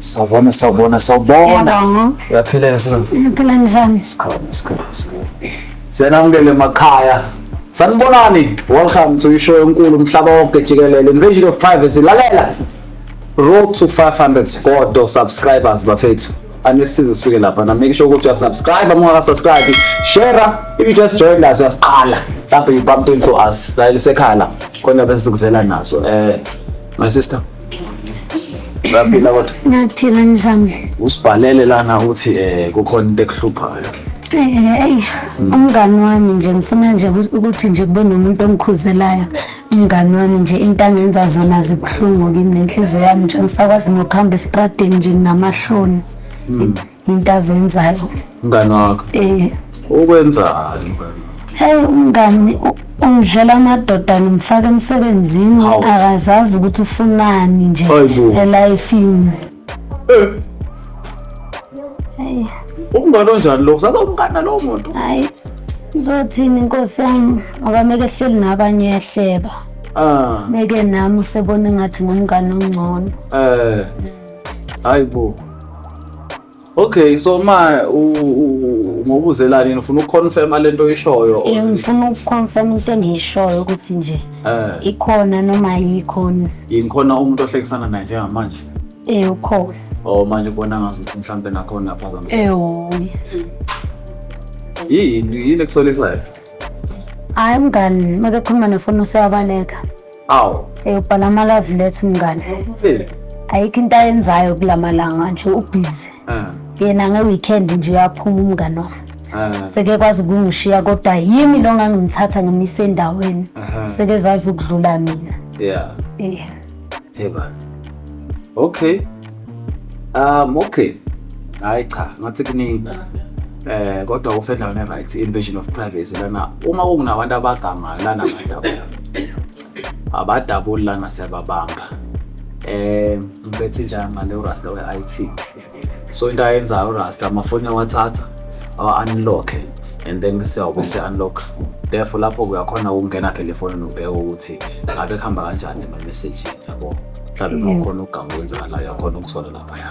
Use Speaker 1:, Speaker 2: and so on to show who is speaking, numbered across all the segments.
Speaker 1: Sawubona, sawubona, sawubona. Uyaphila sizana. Ngiphila njani?
Speaker 2: Sikhona, sikhona, sikhona.
Speaker 1: Siyanamukela emakhaya. Sanibonani. Welcome to ishow enkulu umhlaba wonke jikelele. Invasion of privacy. Lalela. Road to 500 squad subscribers bafethu. Anisize sifike lapha na make sure ukuthi you subscribe uma ka subscribe. Share if you just joined us uyasiqala. Mhlawumbe you bumped into us. Lalela sekhala. Khona bese sikuzela naso. Eh My sister. Uyaphila kodwa? Ngiyaphila njani?
Speaker 2: Usibhalele lana
Speaker 1: uthi eh kukhona into ekuhluphayo. Hey, umngani
Speaker 2: wami nje ngifuna nje ukuthi nje kube nomuntu ongikhuzelayo. Umngani wami nje into angenza zona zibuhlungu kimi nenhliziyo yami nje ngisakwazi nokuhamba esitradeni nje nginamahloni. Hmm. into azenzayo mngani wakho
Speaker 1: eh ukwenzani mngani hey
Speaker 2: umngani ungidlela amadoda ngimfaka emsebenzini akazazi ukuthi ufunani nje elifini eh hey umngani
Speaker 1: onjani lo sasa umngani nalowo muntu hayi
Speaker 2: ngizothini inkosi yami ngoba meke ehleli nabanye yahleba ah meke nami usebona ngathi ngumngani ongcono eh hayi
Speaker 1: bo okay so ma ngobuzelani yini ufuna ukuconfirma lento oyishoyo or- um ngifuna ukuconfirm
Speaker 2: into engiyishoyo ukuthi nje eh ikhona noma ayikhona yini khona umuntu
Speaker 1: ohlekisana naye njengamanje um ukhona
Speaker 2: o manje ubona
Speaker 1: ngazi ukuthi mhlawumbe nakhona aphazamisa ewu yini yini ekusolisayo
Speaker 2: hhayi mngani uma kekhuluma nefoni useyabaleka awu Eh ubhala ama love letter mngane. Eh, Ayikho into ayenzayo kulamalanga nje ubhizi. ah, Yena nge weekend nje uyaphuma umngane wami. ah, Seke kwazi ukungishiya kodwa yimi lo ngangimthatha ngimisa endaweni. Aha. Seke zazi ukudlula mina. yeah Eh. Hey
Speaker 1: bani. Okay. Um okay. Hayi cha, ngathi kuningi. Eh kodwa okusendaweni right invasion of privacy lana uma kunabantu abaganga lana abadabu. Abadabuli lana siyababamba. Eh ngibethi njani ngale urasta we IT. So into ayenza urasta amafoni yawathatha awa unlock and then siyabe se unlock. Therefore lapho kuyakhona ukungena phela efonini ubheke ukuthi ngabe kuhamba kanjani ama message yabo. mhlawumbe uma ukhona uganga okwenzakalayo akhona ukuthola laphaya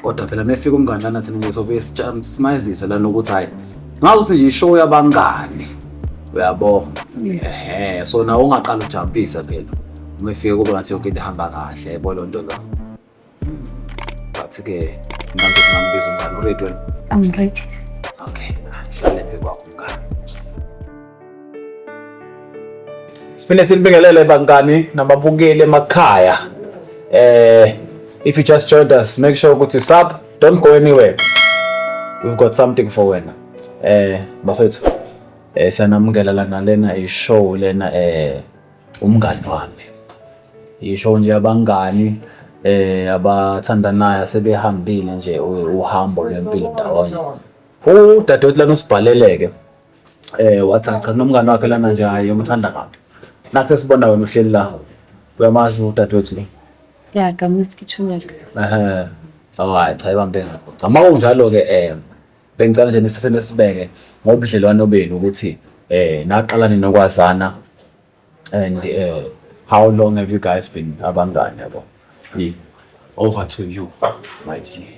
Speaker 1: kodwa phela mefika umngani lana thina nje sovuye simayizise lana ukuthi hhayi ngazuthi nje ishow yabangani uyabo ehe so nawe ungaqala ujampisa phela uma efike kube ngathi yonke into ihamba kahle yabo loo nto lo but-ke nami singambiza umngani uready wena I'm ready.
Speaker 2: okay
Speaker 1: sihlale phekwakho umngani Siphinde silibingelele bangani nababukeli emakhaya. Eh if you just joined us, make sure ukuthi sub, don't go anywhere. We've got something for wena. Eh bafethu. Eh sanamukela lana lena i show lena eh umngani wami. I show nje abangani eh abathandanayo sebehambile nje uhambo lwempilo ndawonye. Udadewethu lana usibhaleleke. eh wathi cha nomngane wakhe lana nje hayi umthanda kabi nathi sesibona wena uhleli la uyamazi udadewethu le ya kamuthi
Speaker 3: kichumeka ehe
Speaker 1: awayi cha ibambe ngakho cha uma kunjalo ke eh bengicela nje nisase nesibeke ngobudlelwano benu ukuthi eh naqala ninokwazana and eh how long have you guys been abangane yabo Yi. over to you my dear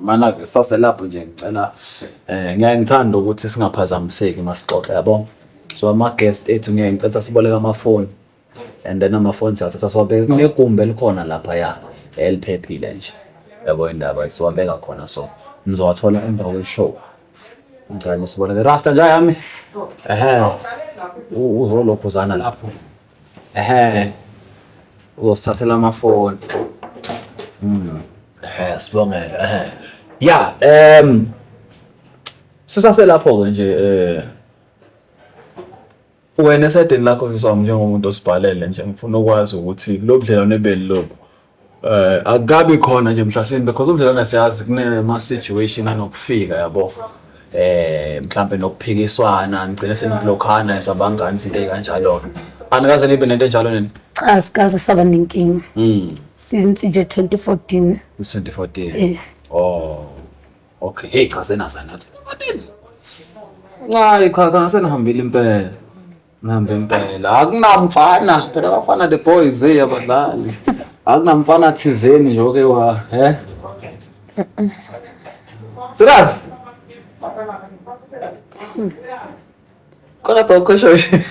Speaker 1: Mana ke sase lapho nje ngicela eh ngiyaye ngithanda ukuthi singaphazamiseki masixoxe yabo. So ama guest ethu ngiyaye ngicela siboleka amafoni and then amafoni siyathatha siwabeke kunegumbi elikhona lapha ya eliphephile nje. Yabo indaba siwabeka khona so nizowathola emva kweshow. Ngicela nisiboleke. Rasta nja yami. Ehhe. Uzolokhuzana lapho. Ehe. Uzosithathela amafoni. Mm. Ehe, sibongele. Ehe. Ya, em sisase lapho ke nje eh wena esedeni lakho siswami njengomuntu osibhalele nje ngifuna ukwazi ukuthi lo budlelwane beli lobu Eh akabi khona nje mhlasimbe because umdlalwana siyazi kunema situation anokufika yabo. Eh mhlambe nokuphikiswana ngicela seniblokhana esabangani izinto ezikanjalo. Anikaze nibe nento enjalo nini? Cha sikaze saba
Speaker 2: nenkinga. Mm. Since nje 2014. 2014. Eh.
Speaker 1: Oh. Okay, hey cha senaza nathi. Ncayi cha cha senihambile impela. Ngihambe impela. Akunamfana, phela abafana the boys hey abadlali. Akunamfana thizeni nje oke wa, he? Siraz. Kona toko shoshi.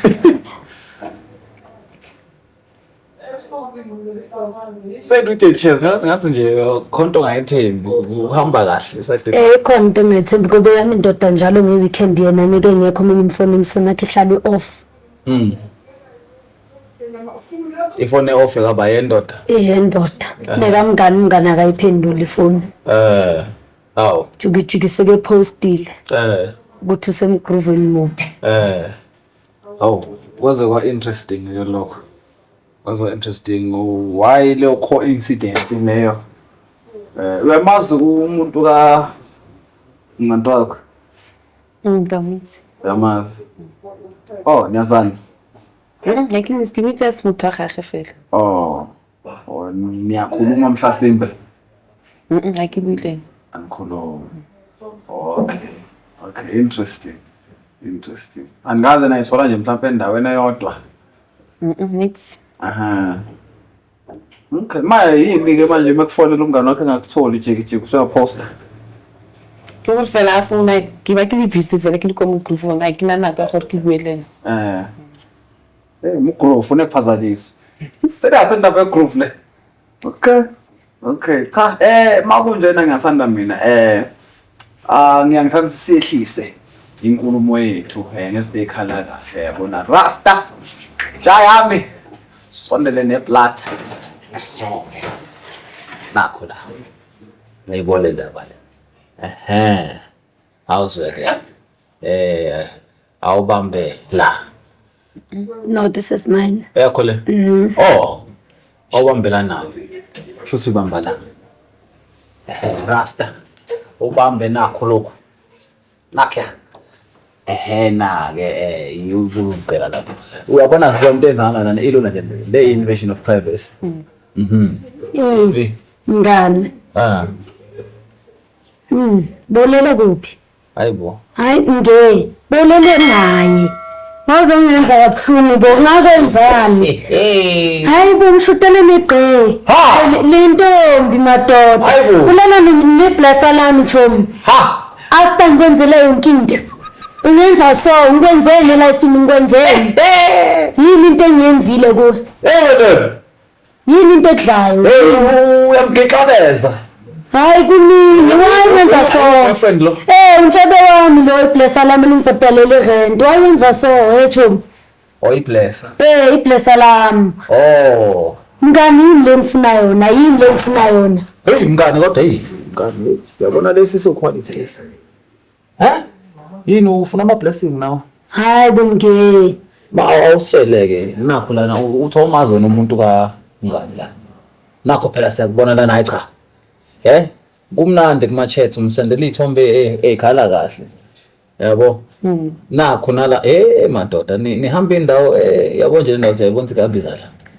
Speaker 1: Seyidwide cheers ngathi nje khona into ongayethembi uhamba kahle seyidwide. Eh khona into engethembi
Speaker 2: ngoba yami indoda njalo nge weekend yena mike ngekho mina imfoni imfoni yakhe ihlale off. Mm.
Speaker 1: Ifone off kaba yendoda. Eh yendoda. Eh.
Speaker 2: Nekamngani umngani akayiphenduli ifoni. Eh.
Speaker 1: Aw. Jukijikise
Speaker 2: ke postile. Eh. Ukuthi usemgrooveni muphi. Eh.
Speaker 1: Hawu, kwaze kwa interesting ke lokho. Kwaze kwa interesting why leyo coincidence leyo. Eh uyamazi umuntu ka Ncanto wakho?
Speaker 3: Ngikamuthi. Uyamazi.
Speaker 1: Oh, niyazana.
Speaker 3: Ngeke ngizigibithe simuthaga gefela. Oh. Oh,
Speaker 1: niyakhuluma mhlasimbe? Mhm,
Speaker 3: akibuyile. Angikhulumi.
Speaker 1: Okay. Okay, interesting. Interesting. Angikaze nayithola nje mhlawumbe endaweni eyodwa.
Speaker 3: Mhm,
Speaker 1: nix. Aha. Okay, manje yini ke manje mekufonela umngane wakhe engakutholi jiki jiki usuyaposta.
Speaker 3: Ke gore fela a founa ke ba ke le busy fela ke le kwa motlong foo ga ke na nako ya gore ke bue le ena Eh. Hey,
Speaker 1: mgroove unephazanyiswa. Serious indaba yegroove le. Okay. Okay. Cha, eh makunjena ngiyathanda mina. Eh ah ngiyangithanda ukuthi siyehlise inkulumo yethu eh ngezinto ekhala kahle yabona. Rasta. Jayami. Sondele neplata. Nakho la. Ngiyibone indaba le. Ehe. How's it? Eh awubambe la.
Speaker 2: No, this is mine. Eyakho le? Mm.
Speaker 1: Oh. Awubambela nayo. Shuthi ubamba la. Eh rasta. Ubambe nakho lokho. Nakhe. ehena ke eh yubukela lapho uyabona ngisho into enzana lana ilona nje le invasion of privacy mm. mhm mm.
Speaker 2: ngani ah mm bolela kuphi hayi bo hayi
Speaker 1: nge
Speaker 2: bolele naye waze ungenza kabuhlungu bo ngakwenzani hayi bo ngishutele negqe lentombi madoda ulala neblesa lami chomi after ngikwenzele yonke into ungenza so ngikwenzele elifini ngikwenzele yini into engiyenzile kuwe
Speaker 1: yini
Speaker 2: into edlayo hey uyamgixabeza
Speaker 1: hayi
Speaker 2: kunini why wenza so boyfriend lo eh
Speaker 1: untshebe wami
Speaker 2: lo iblessa lami lingibhadalele rent why wenza so hey chum oh iblessa
Speaker 1: eh iblessa
Speaker 2: lami oh mngani yini le ngifuna yona yini le ngifuna yona hey mngani kodwa hey
Speaker 1: mngani yabona lesi so quality lesi Huh? Yini ufuna ama blessing nawe? Hayi bomngeni.
Speaker 2: Ba awusheleke
Speaker 1: nakho lana uthi awumazi wena umuntu ka ngani la. Nakho phela siyakubona lana hayi cha. Eh? Kumnandi kuma chats umsendela ithombe eh, ekhala kahle. Yabo? Mm. Nakho nala eh madoda nihamba indawo eh yabo nje indawo siyayibona ukuthi kabiza la.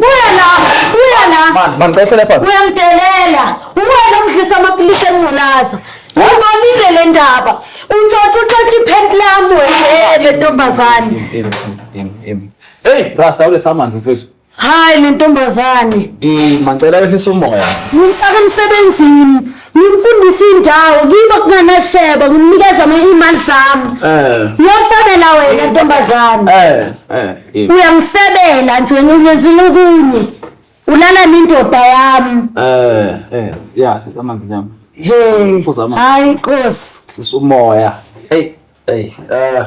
Speaker 1: Buya la, buya la. Man, man cela telephone. Uyamdelela.
Speaker 2: Uwena omdlisa amapilisi enculaza. Ubonile le ndaba. Untshontsha untshontsha iphenti lami wena le ntombazane. Em,
Speaker 1: em, em. Hey, Rasta uletha amanzi mfethu. Hayi le
Speaker 2: ntombazane. Eh, man cela
Speaker 1: wehlisa umoya. Ngimfaka
Speaker 2: emsebenzini. Ngimfundisa indawo kiba kunganasheba ngimnikeza ama-email zami. Eh. Uyafana la wena ntombazane. Eh, eh. Eh. uyangifebela nje wena ungenzile okunye ulala nendoda yami eh eh
Speaker 1: ya amanzi nyama he Phuza
Speaker 2: amanzi. hayi nkosi sisa umoya
Speaker 1: hey hey eh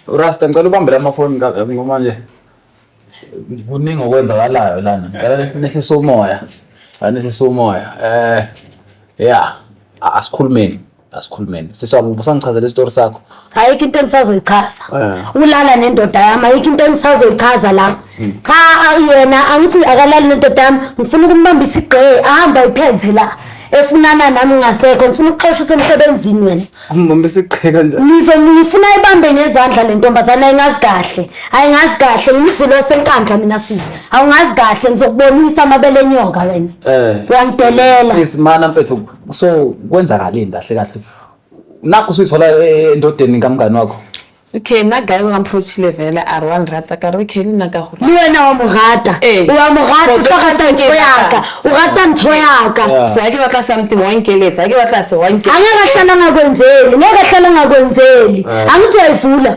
Speaker 1: urasta ngicela ubambele amafoni ka- ngoba nje kuningi okwenzakalayo lana ngicela ne- nehlise umoya Ngicela nehlise umoya eh ya a- asikhulumeni asikhulumeni sisi wami ubusangichazela isitori sakho ayikho into
Speaker 2: engisazoyichaza eh. ulala nendoda yami ayikho into engisazoyichaza la hmm. cha yena angithi akalali nendoda yami ngifuna ukumbamba isigqe ahamba ayiphenze la efunana nami ngasekho ngifuna ukuxosha usemsebenzini wena umbamba isigqe
Speaker 1: kanjani ngizo ngifuna ibambe
Speaker 2: ngezandla le ntombazana ayingazi kahle ayingazi kahle ngimzulu wasenkandla mina sisi awungazi kahle ngizokubonisa amabele enyoka wena eh. uyangidelela sisimana mfethu
Speaker 1: so kwenzakaleni kahle kahle nakho suyithola eh, endodeni kamngani wakho okay nna guy
Speaker 3: wa mprochile fela a re wa nrata ka re okay le nna ka gore le wena wa mo rata
Speaker 2: Ee. wa mo rata o tlo rata ntho yaka o rata ntho yaka Yeah. so ga ke batla something
Speaker 3: wa nkeletsa ga ke batla se wa a nkeletsa ngeke ahlala ngakwenzeli
Speaker 2: ngeke ahlala ngakwenzeli angithi uyayivula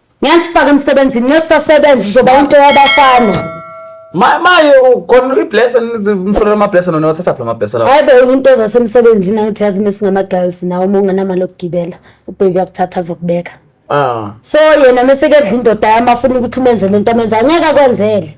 Speaker 2: Ngiyakufaka emsebenzini nxa kusasebenza uzoba into yabafana. Ma maye
Speaker 1: ukhona ibless umfuna ama bless nona wathatha phela ama bless lawo. Hayi bo into zasemsebenzini
Speaker 2: awuthi yazi mesingama girls nawo uma ungenamali okugibela ubaby yakuthatha azokubeka. Ah. So yena mese kedla indoda yami afuna ukuthi menze lento amenza ngeke akwenzele.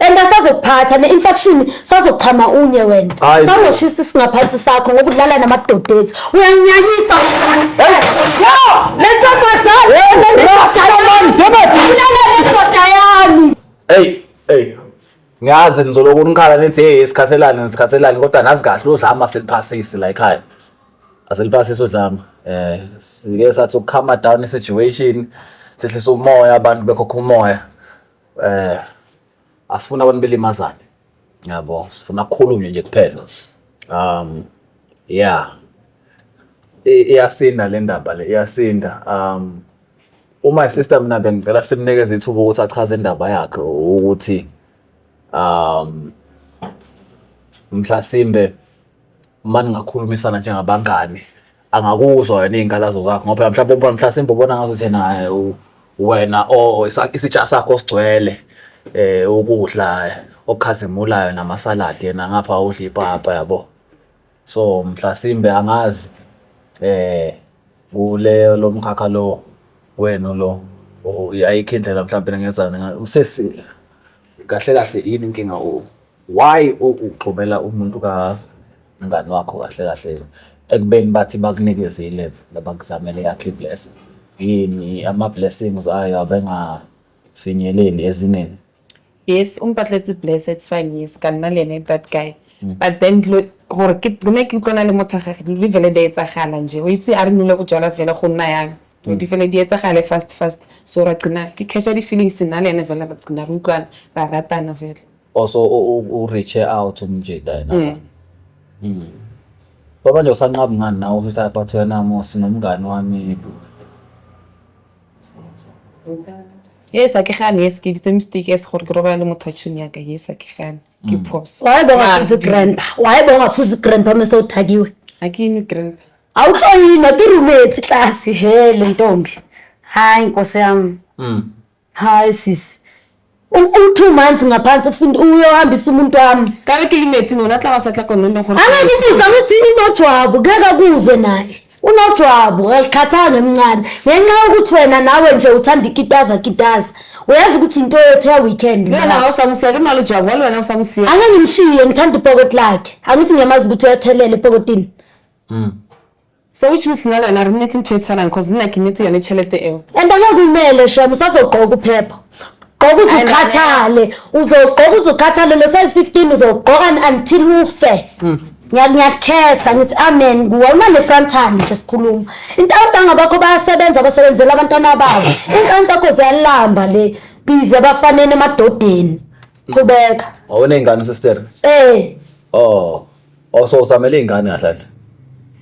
Speaker 2: and asazokuphatha ne-infection sazochama unye wena Hayi bo. sazoshisa isingaphansi sakho ngoba udlala namadoda ethu uyanyanyisa lentombazanendoda yami Hey, hey.
Speaker 1: Ngiyazi nizoloko nikhala nithi hey isikhathelane nisikhathelane kodwa nazi kahle udlama seliphasisi la ekhaya. Aseliphasisi udlama. Eh sike sathi ukukhama down i situation sehlisa umoya abantu bekhokha umoya. eh asifuna abantu belimazane yabo sifuna kukhulunywe nje kuphela um yeah iyasinda le ndaba le iyasinda um uma sister mina bengicela simnikeze ithuba ukuthi achaze indaba yakhe ukuthi um mhlasimbe uma ningakhulumisana njengabangani angakuzwa yena iy'nkalazo zakho ngoba mhlawumbe ubona mhlasimbe ubona ngazo ukuthi naye wena o isitsha sakho sigcwele eh ukudla okhazimulayo namasaladi yena ngapha udla ipapa yabo so mhlasimbe angazi eh kuleyo lo mkhakha lo wenu lo ayikho indlela mhlawumbe ngezana usesi kahle kahle yini inkinga o Why ugxobela umuntu ka mngani wakho kahle kahle ekubeni bathi bakunikeze i-level nabakuzamele yakhe i-blessing yini ama-blessings ayo abengafinyeleli ezingeni yes
Speaker 3: umpatletsi bless it's fine yes ka nna le ene that guy mm. but then dilo gore ke ne ke utlwana le motho gage dilo di fele di etsagala nje o itse a re nole go jala fela go nna yang dilo di mm. fele di etsagale fast fast so ra qina ke catcha di-feelings nna le ene fela ra qina re utlwana ra ratana fela Oh so u- u-
Speaker 1: u-reache out umjita yena. Mm. baba. Mm. Baba nje usanqaba ngani nawe ukuthi hayi but wena Mosi nomngani wami.
Speaker 3: yes a ke gane yes ke ditse mistake yes gore ke robala le motho wa tšhomi yaka yes a ke gane ke phoso waye bongaphuzi
Speaker 2: grandpa waye bongaphuzi grandpa mese udakiwe a ke ene grandpa
Speaker 3: awuhloyinwa
Speaker 2: ke room etsi tlase hele ntombi hayi nkosi yami Mm. Hayi sisi. U-two months ngaphansi ufuna uyohambisa umuntu wami. Ka re ke imetseng ona
Speaker 3: tla ba sa tla kone leng gore. Angakubuza ukuthi
Speaker 2: unojwabu ngeke akuzwe naye. Unojwabu alikhathanga ngemncane ngenxa yokuthi wena nawe nje uthanda ikitaza kitaza. Uyazi ukuthi into yethu ya weekend. Wena awusamsiya ke
Speaker 3: nalo jwabu walo wena awusamsiya. Angeke ngimshiye ngithanda
Speaker 2: ipocket lakhe. Angithi ngiyamazi ukuthi uyathelela epokotini. Mm.
Speaker 3: So which means nalo wena rini nithi nithwethelana cause nina kinithi yona itshelete ewu. And angakumele
Speaker 2: shem usazogqoka uphepha. Gqoka uze Ay, mama. ukhathale. Uzogqoka uze ukhathale lo size 15 uzogqoka un- until ufe. Ngiya- Ngiyakhesa ngithi amen kuwe unane frontal nje sikhuluma. Into awudanga bakho bayasebenza basebenzela abantwana babo. Ingane zakho ziyalamba le busy abafaneni emadodeni. Qhubeka. Wawuney'ngane
Speaker 1: usestere? Eh. Oh. Oh so usamele ingane kahle
Speaker 3: kahle.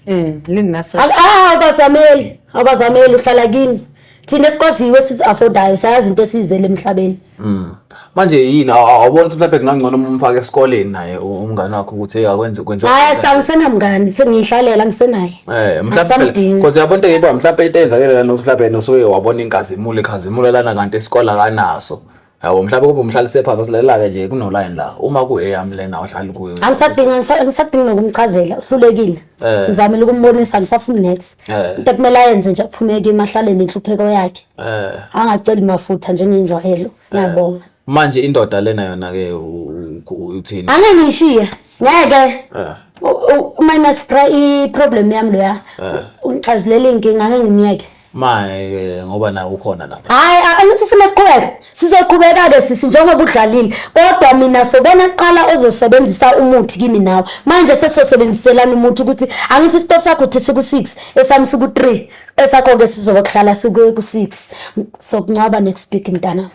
Speaker 3: Mm, lini nase. Al- ah, abazameli
Speaker 2: abazameli uhlala kini thina esikwaziyo esizi-afodayo sayazi into esiyizele emhlabeni Mm. Manje
Speaker 1: yini aw- aw- awuboni ukuthi mhlawumbe kungangcono uma umfake esikoleni naye u- umngane wakho ukuthi hey akwenze kwenze. hayi cha ngisenamngani
Speaker 2: sengiyihlalela ngisenaye Eh mhlawumbe Angisamdingi.
Speaker 1: because yabona into eyiba mhlawumbe into eyenzakele lana mhlawumbe nosuke wabona inkazimulo ikhazimula lana kanti isikole akanaso. yabo mhlawumbe kube umhlalise phansi osilelela-ke nje kunolayini la uma kueyami lena ohlali kuyo angisadingi angisa- angisadingi
Speaker 2: nokumchazela uhlulekile Eh. ngizamile ukumbonisa angisafuni next Eh. into ekumele ayenze nje aphumeke emahlale nenhlupheko yakhe Eh, angaceli mafutha njengenjwayelo ngiyabonga manje indoda
Speaker 1: lena yona-ke u- u- u- uthini angeke ngiyishiye
Speaker 2: ngeke Eh, U- u- uma inasipra i-problem yami loya ungixazulele iy'nkinga angeke ngimyeke Maye ngoba
Speaker 1: nawe ukhona lapha. Hayi angithi ufuna
Speaker 2: siqhubeke. Sizoqhubeka ke sisi njengoba udlalile. Kodwa mina sobona kuqala ozosebenzisa umuthi kimi nawe. Manje sesosebenziselana umuthi ukuthi angithi stop sakho uthi siku 6 esami siku 3 esakho ke sizobe kuhlala siku 6 sokuncwaba next week mntana.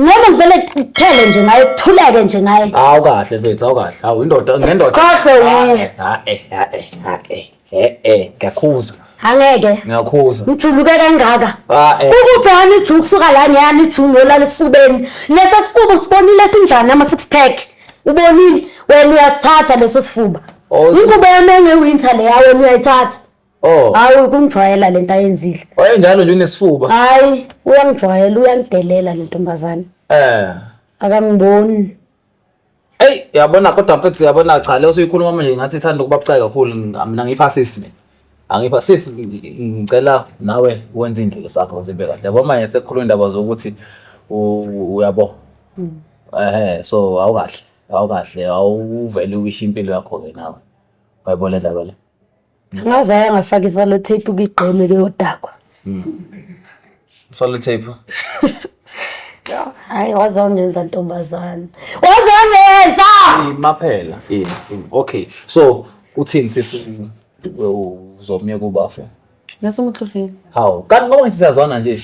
Speaker 2: Ngeke ngivele kuphele nje ngaye kuthuleke nje ngaye. Hawu kahle mfethu, hawu
Speaker 1: kahle. Hawu indoda ngendoda. Kahle uye. Ha eh ha
Speaker 2: eh ha eh. Eh eh
Speaker 1: ngiyakhuza. Angeke.
Speaker 2: Ngiyakhuza. Ngijuluke
Speaker 1: kangaka.
Speaker 2: Ah, eh. Ukubhana ijuku suka la ngiyani ijuku ngiyolala esifubeni. Lesa sifuba usibonile sinjani ama six pack. Ubonile wena uyasithatha leso sifuba. Oh, Inkuba yami engewinter leya wena uyayithatha. Oh. Hayi kungijwayela lento ayenzile. Wayenjalo nje unesifuba.
Speaker 1: Hayi
Speaker 2: uyangijwayela uyangidelela le ntombazane. Eh. Akangiboni. Ey
Speaker 1: yabona kodwa mfethu yabona cha leyo usuyikhuluma manje ngathi ithanda ukuba bucayi kakhulu mina ngipha sisi mina. Angipha sisi ngicela nawe wenze indlela sakho uzibe kahle. Yabo manje sekukhuluma indaba zokuthi uyabo. Hmm. Eh so awukahle awukahle awuvele uwishe impilo yakho ke nawe. Bayibona indaba le.
Speaker 2: Ngaze aya ngafaka isalo tape kigqeme kuyodakwa.
Speaker 1: Solo tape.
Speaker 2: Hayi waze wangenza ntombazane. Waze wangenza! Imaphela.
Speaker 1: Yini. yini. Okay. So uthini sisi uzomyeka ubafe? Ngasengihlupheni.
Speaker 3: Hawu. Kanti ngoba
Speaker 1: ngisizazwana nje.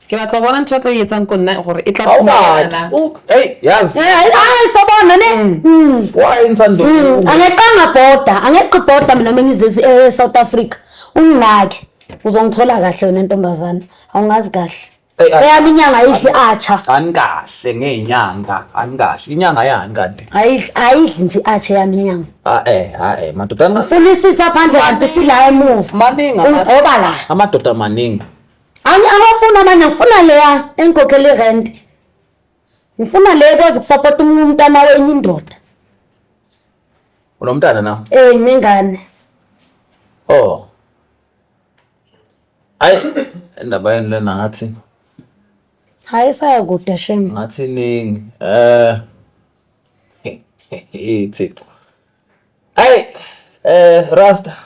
Speaker 3: ke batla go bona ntho e tlo e etsang ko nna gore e tla Ha o batle. phumana U- hey,
Speaker 1: yazi hayi sobona
Speaker 2: ne Mm. wayenza Mm,
Speaker 1: ndoda angeqanga bhoda
Speaker 2: angeqi bhoda mina uma ngizezi e-south africa unginake uzongithola kahle wena ntombazane awungazi kahle Eyi, ay- eyami inyanga ayidli atsha anikahle
Speaker 1: ngeenyanga anikahle inyanga yani kanti ayidli ayidli nje
Speaker 2: atsha eyami inyanga ae ae madoda
Speaker 1: anikahle. funa isitha
Speaker 2: phandle kanti sila emuva maningi ama- ugoba
Speaker 1: la
Speaker 2: amadoda maningi
Speaker 1: Angi abafuna
Speaker 2: abanye ngifuna leya engikhokhela irent. Ngifuna le ekwazi ukusupport umunye umntana wenye indoda.
Speaker 1: Unomntana na? Eh nginengane. Oh. Hayi indaba yenu lena ngathi
Speaker 2: Hayi saya kude shem. ngathi iningi.
Speaker 1: Eh. Ithixo. Hayi eh Rasta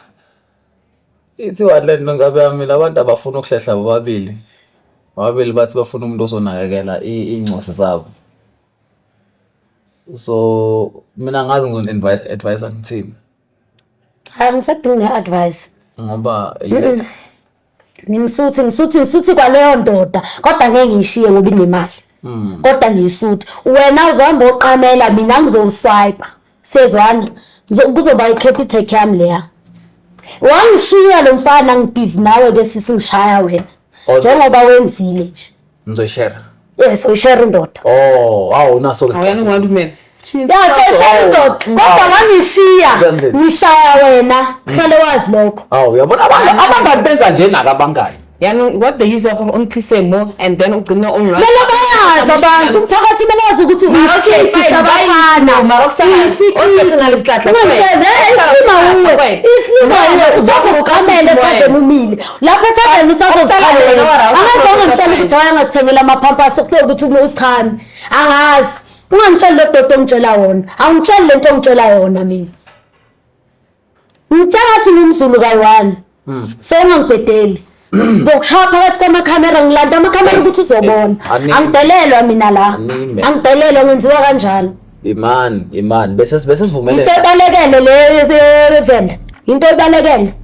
Speaker 1: Ithi one le nto ingabe yamile abantu abafuni ukuhlehla bobabili. Bobabili bathi bafuna umuntu ozonakekela iy'ncosi zabo. So mina angazi ngizoni-advise-a ngithini. Hhayi
Speaker 2: angisadingi ne-advice. Ngoba
Speaker 1: ngimsuthi
Speaker 2: ngisuthi ngisuthi kwaleyo ndoda kodwa ngeke ngiyishiye ngoba inemali. Kodwa ngiyisuthi wena uzohamba uyoqamela mina ngizowuswayipa. Sezwana, ngizo- kuzoba i-capitec yami leya. Wangishiya lo mfana ngibhizi nawe ke sisi ngishaya wena. Okay. Njengoba wenzile nje. Ngizoyishare.
Speaker 1: Yes, ushare
Speaker 2: indoda. Oh, wow, unaso
Speaker 1: ke. Awuyani ungalumela.
Speaker 3: Ya seshaya
Speaker 2: indoda. Kodwa wangishiya Zenzile. ngishaya wena. Hlale wazi lokho. Awu uyabona abanye
Speaker 1: abangani benza nje naka abangani. yaanong what the user
Speaker 3: gore o ntlise mo and then ugcine onlelobaazi
Speaker 2: abantu umphakathi kumele wazi ukuthi uyisikisabafanaislimawe uzokuqamele thaveni umile lapho ethaveni usazoziqamela angazi ongamtshela ukuthi wayangakuthengela amaphampasi okuthiwa ukuthi uchame angazi ungangitsheli lo dodo ongitshela wona angitsheli le nto ongitshela yona mina Mtshakathi nomzulu kayi-one hmm. so ungangibhedeli ngizokushaya phakathi kwamakhamera ngilanda amakhamera ukuthi uzobona angidelelwa mina la angidelelwa ngenziwa kanjalo imani imani
Speaker 1: bese bese sivumelene into ebalekele
Speaker 2: le venda into ebalekele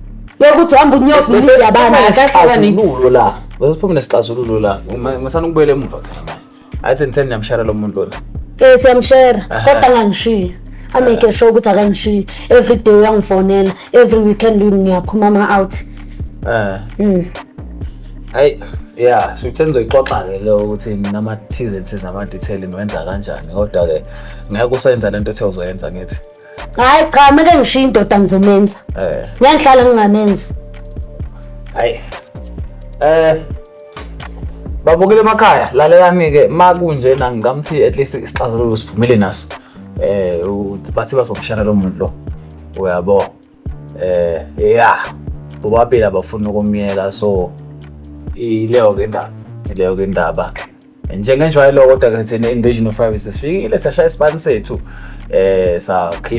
Speaker 2: yokuthi uhamba unyovu nizabana akasika nix la
Speaker 1: bese siphuma nesixazululo la ngisana ukubuyela emuva phela athi ngitheni niyamshara lo muntu lona eh siyamshara kodwa
Speaker 2: angangishiya ameke sure ukuthi akangishiyi every day uyangifonela every weekend ngiyaphuma ama-out um mm.
Speaker 1: ayi ya sikutheni uzoyixoxa-ke lo ukuthi nama-tsenses nama-detail niwenza kanjani kodwa-ke ngeke usenza le nto ethe uzoyenza ngithi hayi cha
Speaker 2: meke ngishiye indoda ngizomenza eh ngiyahlala ngingamenzi
Speaker 1: hayi eh babukile emakhaya lalelani ke makunje na ngingamthi at least isixazululo siphumile naso eh bathi bazomshana lo muntu lo uyabo eh yeah bobabili abafuna ukumyeka so ileyo ke indaba ileyo ke indaba njengenjwayelo kodwa-ke thina invasion of privacy sifikile sashaya isibani sethu um sakhipha